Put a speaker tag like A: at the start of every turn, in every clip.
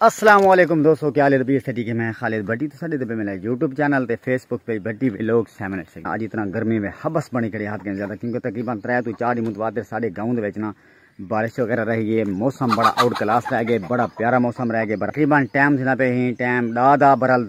A: السلام علیکم دوستو کیا لیر بیس تھٹی کے میں خالد بھٹی تو ساڈے دبے ملے یوٹیوب چینل تے Facebook page Bhatti vlog seven eight six اج اتنا گرمی میں حبس بنی کھڑی ہاتھ کے زیادہ کیونکہ تقریبا ترے تو چار دی متواتر ساڈے گاؤں دے وچ نا بارش وغیرہ رہ گئی ہے موسم بڑا آؤٹ کلاس رہ گئے بڑا پیارا موسم رہ گئے تقریبا ٹائم تھنا پہ ہی ٹائم دا دا برل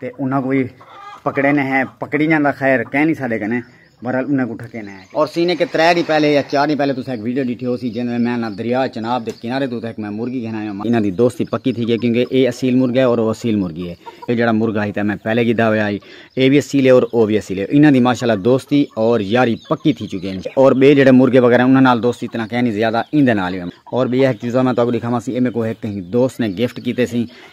A: تے انہاں کوں وی پکڑے نے ہیں پکڑی جاندا خیر کہہ نی ساڈے کنے بہرحال انہاں کوں ڈھکے نے ہیں اور سینے کے ترے ڈی پہلے یا چار ڈی پہلے تساں ایک ویڈیو ڈیٹھی ہوسی جیندے میں انہاں دریا چناب دے کنارے دے اتھے ایک میں مرغی گھن آیاں انہاں دی دوستی پکی تھی گئی کیونکہ اے اصیل مرغ ہے اور او اصیل مرغی ہے اے جیڑا مرغ ہائی تے میں پہلے گھدا ہویا ہائی اے وی اصیل ہے اور او وی اصیل ہے انہاں دی ماشاءاللہ دوستی اور یاری پکی تھی چکی ہیں اور بے جیڑے مرغے وغیرہ انہاں نال دوستی اتنا کہہ نی زیادہ ایندے نال ہی اور بے ایک چیزاں میں تاکوں دکھاواں سی اے میکو ایک کہیں دوست نے گفٹ کیتے سی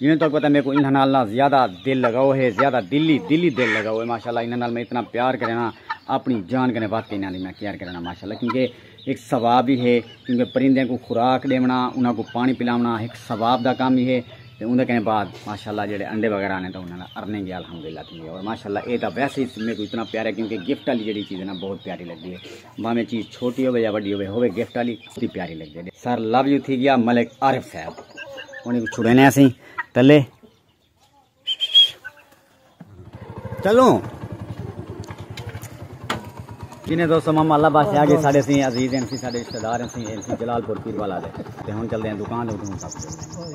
A: جیویں تہاکوں پتہ ہے میکوں انہاں نال نہ زیادہ دل لگاؤ ہے زیادہ دل ای دل ای دل لگاؤ ہے ماشاءاللہ انہاں نال میں اتنا پیار کرینا اپنی جان کنے ودھ کے انہاں دی میں کیئر کرینا ماشاءاللہ کیونکہ ہک ثواب ای ہے کیونکہ پرندیاں کوں خوراک ݙیوݨا انہاں کوں پاݨی پلاوݨا ہک ثواب دا کم ای ہے تے اوندے کنے بعد ماشاءاللہ جیڑھے انڈے وغیرہ آنے تاں انہاں نال ارننگ ای الحمدللہ تھیندی ہے اور ماشاءاللہ اے تاں ویسے ای میکوں اتنا پیارا ہے کیونکہ گفٹ آلی جیڑھی چیز ہے نا بہت پیاری لگدی ہے بھاویں چیز چھوٹی ہووے یا وڈی ہووے ہووے گفٹ والی تے پیاری لگدے نے سر لو یو تھی گیا ملک عارف صاحب انہیں کو چھڑینے اسیں تلے چلو جنہیں دوستو ماما اللہ باس آگے ساڑے سی عزیز ہیں سی ساڑے رشتہ دار ہیں سی جلال پور پیر والا دے تے ہن چل دے ہیں دکان دے اٹھوں تک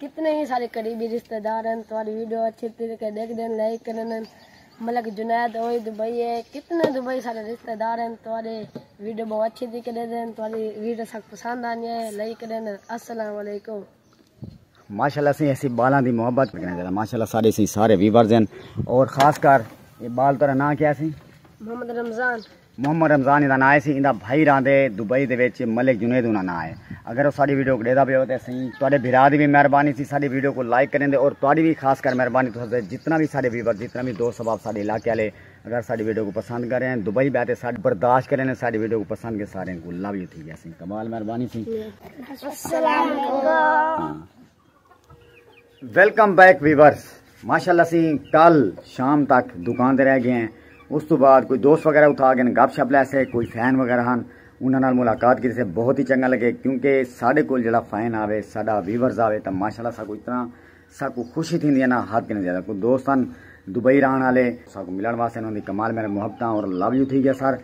B: کتنے ہی سارے قریبی رشتہ دار ہن تہاڈی ویڈیو اچھے طریقے ڈیکھدے ہن لائک کرن ہن ملک جنید اوہی دبئی ہے کتنے دبئی سارے رشتہ دار ہن تہاڈے ویڈیو بہت اچھے طریقے ڈیکھدے ہن تہاڈی ویڈیو ساکوں پسند آندی ہے لائک کرن ہن السلام علیکم ماشاءاللہ
A: سی ایسی بالاں دی محبت کرنے ذرا ماشاءاللہ سارے سی سارے ویورز ہیں اور خاص کر یہ بال ترا نہ کیا سی محمد رمضان محمد رمضان ایندا ناں سی ایندا بھائی راہندے دبئی دے وچ ملک جنید انہاں ناں ہے اگر او ساڈی ویڈیو کو ڈیدا پے ہو تے اسیں تواڈے بھرا دی وی مہربانی سی ساڈی ویڈیو کو لائک کریں دے اور تواڈی وی خاص کر مہربانی تساں دے جتنا وی ساڈے ویور جتنا وی دوست احباب ساڈے علاقے والے اگر ساڈی ویڈیو کو پسند کریں دبئی بیٹھے ساڈے برداشت کریں ساڈی ویڈیو کو پسند کے سارے کو لو یو تھی گیا سی کمال مہربانی سی السلام علیکم ویلکم بیک ویورز ماشاءاللہ سی کل شام تک دکان دے رہ گئے ہیں اس تو بعد کوئی دوست وغیرہ اتھا گئے گپ شپ لے سے کوئی فین وغیرہ ہن انہاں نال ملاقات کیتے سے بہت ہی چنگا لگے کیونکہ ساڈے کول جڑا فین آوے ساڈا ویورز آوے تا ماشاءاللہ ساکو اتنا ساکو خوشی تھیندی ہے نا حد کنے زیادہ کوئی دوست ہن دبئی رہن والے ساکو ملن واسطے انہاں دی کمال میرے محبتاں اور لو یو تھی گیا سر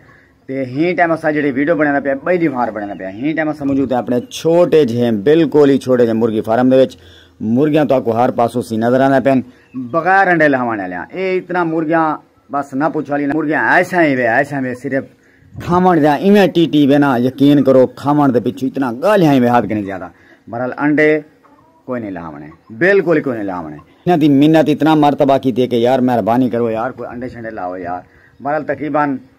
A: تے ہین ٹائم اسا جڑے ویڈیو بنانا پیا بئی دی فار بنانا پیا ہین ٹائم اسا موجود ہیں اپنے چھوٹے جھے بالکل ہی چھوٹے جھے مرغی فارم دے وچ مرغیاں تو اکو ہر پاسو سی نظر آنا پین بغیر انڈے لہوانے لیاں اے اتنا مرغیاں بس نہ پوچھو لینا مرغیاں ایسا ہی وے ایسا ہی وے صرف کھاون دے ایویں ٹی ٹی وے نا یقین کرو کھاون دے پچھو اتنا گال ہی وے ہاتھ کے نہیں زیادہ برحال انڈے کوئی نہیں لہوانے بالکل ہی کوئی نہیں لہوانے انہاں دی منت اتنا مرتبہ کی تھی کہ یار مہربانی کرو یار کوئی انڈے شنڈے لاؤ یار برحال تقریباً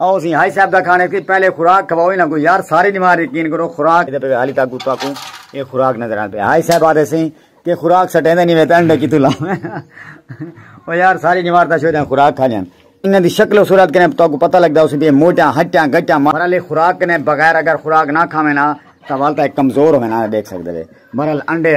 A: او سی ہائی صاحب دا کھانے سی پہلے خوراک کھواؤ انہاں کو یار ساری نماز یقین کرو خوراک دے پہ حالی تاکو تاکو یہ خوراک نظر آتے ہیں ہائی صاحب آتے سی کہ خوراک سٹے دے نہیں ویتے انڈے کی تو لاؤں او یار ساری نماز دا شوئے دیں خوراک کھا جان انہاں دی شکل و صورت کنے تاکو پتہ لگ دا اسی بھی موٹیاں ہٹیاں گٹیاں مرحلے خوراک کنے بغیر اگر خوراک نہ کھا میں نا تو والتا ایک کمزور ہوئے نا دیکھ سکتے دے مرحل انڈے